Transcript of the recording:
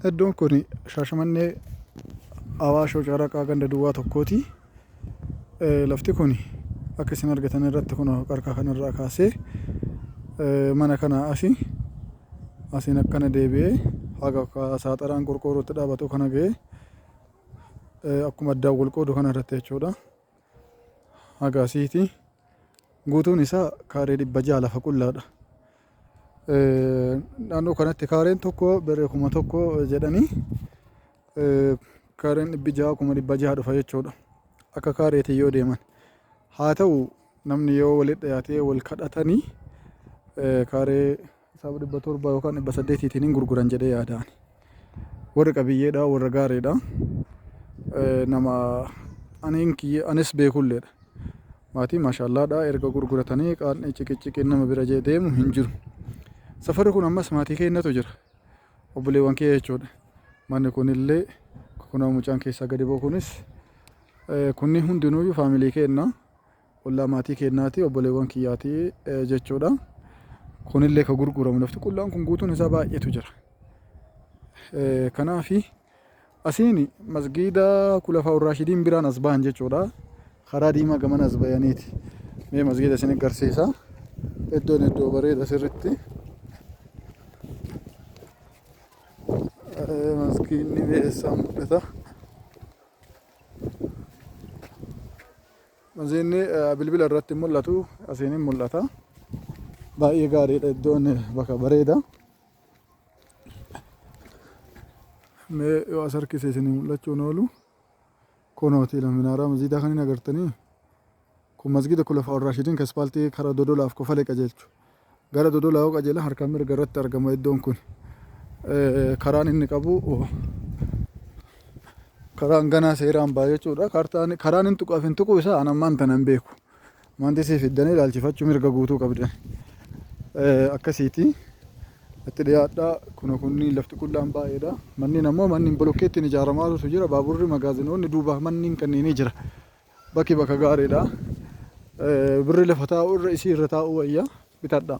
Iddoon kun Shaashamannee Awaashoo Caraqaa ganda duwwaa tokkooti. Lafti kun akka isin argitan irratti kun qarqaa kanarraa kaasee mana kanaa asi asiin akkana deebi'ee haga saaxaraan qorqoorrootti dhaabatu kana ga'ee akkuma addaan wal qoodu kana irratti jechuudha. haga asiiti guutuun isaa kaaree dhibba ja'a lafa qullaadha. Naannoo kanatti kaareen tokko birrii kuma tokko jedhanii kaareen dhibbi ja'a kuma dhibba ja'a dhufa jechuudha. Akka kaareetiin yoo deeman. Haa ta'u namni yoo walitti dhiyaatee wal kadhatanii kaaree Isaaf dhibba torba yookaan dhibba saddeetiitiin hin gurguran jedhee yaada ani. Warri qabiyyeedha, warra gaariidha. Eh, Nama ani hin kiyye- anis beekulleedha. Maatii maashaallaadha erga gurguratanii qaanni ciqiciqiin nama bira jee deemu hin jiru. Safarri kun ammas maatii keenyatu jira. Obboleewwan kiyya jechuudha. Manni kunillee kunoo mucaan keessaa gadi ba'u kunis eh, kunni hundinuuyyuu faamilii keenna. Qullaa maatii keennaati, obboleewwan kiyyaati jechuudha. Kunillee ka gurguramu lafti qullaan kun guutuun isaa baay'eetu jira. Kanaafi asiin masgiida kulafaa urraashidiin biraan as bahan jechuudha. Karaa diimaa gamana as bayaniiti. Mee masgiida isin agarsiisa. Iddoon iddoo bareeda sirritti. Maskiinni beessa mul'ata. Maziinni bilbila irratti mul'atu asiin hin mul'ata. Baay'ee gaariidha iddoon bakka bareeda. Mee yoo as harkise isin mul'achuun oolu kunooti minaaraa maziidaa kan hin agartanii kun masgiida kulafa warraashidiin kaspaaltii karaa dodolaaf kofale qajeelchu Gara Dodola yoo qajeelan harka mirga irratti argama iddoon kun. Karaan inni qabu karaan ganaa seeraan ba'a jechuudha. Kaartaan karaan hin tuqaaf hin tuquu isaa an ammaan tana hin beeku. Maandisii fiddanii ilaalchifachuu mirga guutuu qabdan. Akkasiiti. Itti dhiyaadhaa kuna kunniin lafti qullaan baay'eedha. Manneen ammoo manneen bolokkeettiin ijaaramaatu jira. Baaburri magaazinoonni duubaaf manneen kanneenii jira. Baki baka gaariidha. Birri lafa taa'u irra isii irra taa'u wayya bitadha.